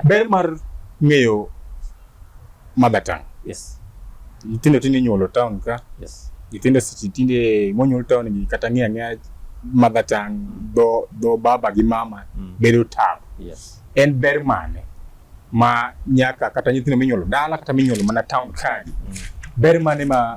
Ber mar ng'eyo mother tongue. Yes. Nyithindo tinde inyuolo town ka. Yes. Nyithindo seche tinde monyuol town gi kata ng'eyo ang'eya mother tongue dho dho baba gi mama mm. bedo tabu. Yes. En ber mane ma nyaka kata nyithindo minyuolo dala kata minyuolo mana town ka. Mm. Ber mane ma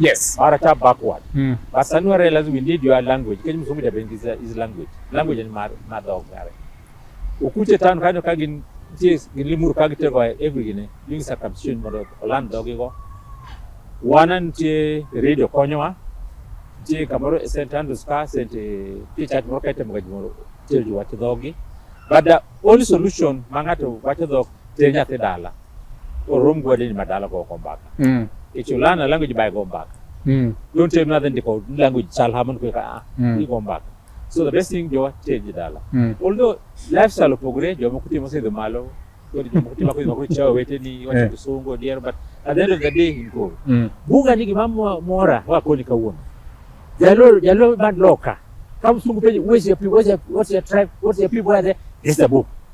Yes, mara cha backward. Mm. But Sanua realize we need your language. Kenya mzungu ya bengi is language. Language ni madog mare. Ukuche tano kanyo kagin tis gilimur kagite kwa every gine. Doing circumcision modo olan dogi go. Wana ntie radio konyowa. Ntie kamoro St. Andrews ka St. Peter moro kaite mgaji moro. Tilju wati dogi. But the only solution mangato wati dogi Ter nyathi dala. Orom gwade ni madala go kombaka. Mm. Ichulana language by gombaka. Mm. Don't tell me nothing ndiko language chal haman kwa ah. Mm. Ni gombaka. So the best thing jowa ter dala. Mm. Although lifestyle opogore jowa kutimo sidho malo. Kodi jowa kutimo kodi makuri chawa wete ni wacha kusungo eh. diero but at the end of the day in go. Mm. Buga ni gimamo mora wako ni kawuono. Jalo jalo man loka. Kama sungu penye where's your people where's your, what's your tribe what's your people are there. This is the book.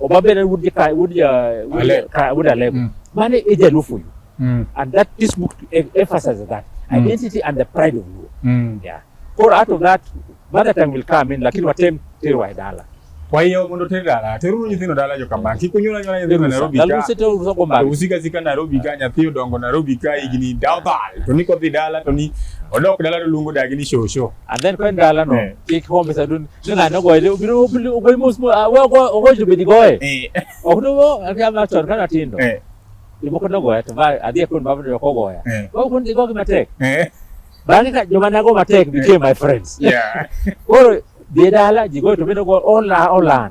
Obabedan would the Kai would uh, would Ale- Kai would Alego. Mm. Mane is a Lufuyu. Mm. And that this book em- emphasizes that Mm. identity and the pride of Luo. Mm. Yeah. Or out of that, mother tongue will come in, lakini watem teru waidala. Kwa hiyo mondo tere dala, teruru nyithindo dala jo kama. Kik unyula nyula nyithindo Nairobi ka. Laluse teru rusa kwa mbali. Usika zika Nairobi ka nyathi odongo Nairobi ka higni dawdal. To ni kodhi dala to ni odok dala to luongo dagi ni shosho. And then kwa ndala no, Eh. kik home sa dun, Nunga no goe de biro biro goe mus mu awe go go ju bidi goe. Eh. Okuno go akya ma chon kana tindo. Eh. Ibo kono goe to ba adhi kun babu yo ko goe. Eh. Go kun go ma tek. Eh. Bangi ka joma nago ma tek became my friends. Yeah. Koro bidala jigo to biro go ola ola.